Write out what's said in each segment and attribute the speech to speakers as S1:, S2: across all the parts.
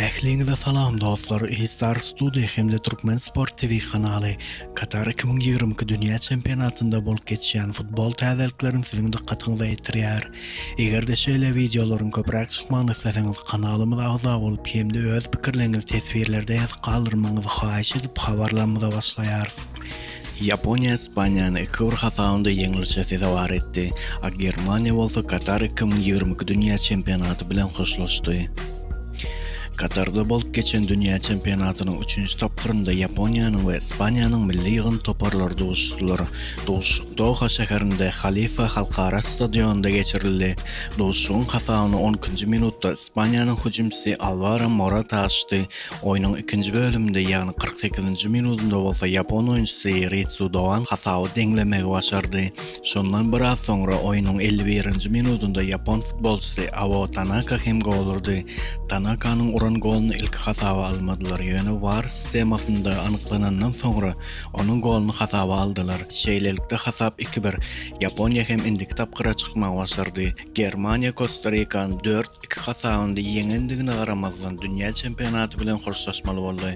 S1: Ähliňize salam dostlar Eýstar Studio hem-de Türkmen Sport TV kanaly Katar iki müň ýigrimi iki dünýä çempionatynda bolup geçýän futbol täzelikleriň siziň dykgatyňyza ýetirýär. Eger-de şeýle wideolaryň köpräk çykmagyny isleseňiz kanalymyza agza bolup hem-de öz pikirleriňizi teswirlerde ýazyp galdyrmagyňyzy haýyş edip habarlarymyza başlaýarys. Ýaponiýa Ispaniýany iki bir hasabynda ýeňlişe sezewar etdi, a Germaniýa bolsa Katar iki müň ýigrimi iki dünýä çempionaty bilen hoşlaşdy. Katarda bolup geçen dünýä çempionatynyň üçünji tapgyrynda Ýaponiýanyň we Ispaniýanyň milli ýygyndy toparlary duşuşdylar. Duşuşyk Doha şäherinde Halifa halkara stadionynda geçirildi. Duşuşygyň hasabyny on ikinji minutda Ispaniýanyň hüjümçisi Alwaro Morata açdy. Oýnuň ikinji bölüminde, ýagny kyrk sekizinji minudynda bolsa ýapon oýunçysy Ritsu Doan hasaby deňlemegi başardy. Şondan biraz soňra, oýnuň elli birinji minudynda ýapon futbolçysy Ao Tanaka hem gol urdy. Tanakanyň uran goluny ilki hasaba almadylar, ýöne war sistemasynda anyklanandan soňra, onuň goluny hasaba aldylar. Şeýlelikde, hasap iki-bir. Ýaponiýa hem indiki tapgyra çykmagy başardy. Germaniýa Kosta Rikany dört, iki hasabynda ýeňendigine garamazdan dünýä çempionaty bilen hoşlaşmaly boldy.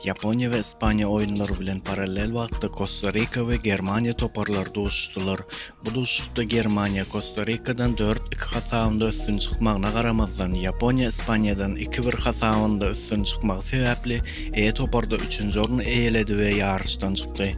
S1: Ýaponiýa we Ispaniýa oýunlary bilen parallel wagtda Kosta Rika we Germaniýa toparlary duşuşdylar. Bu duşuşykda Germaniýa Kosta Rikadan dört, iki hasabynda üstün çykmagyna garamazdan Ýaponiýa Ispaniýadan iki, bir hasabynda üstün çykmagy sebäpli E toparda üçünji orny eýeledi we ýaryşdan çykdy.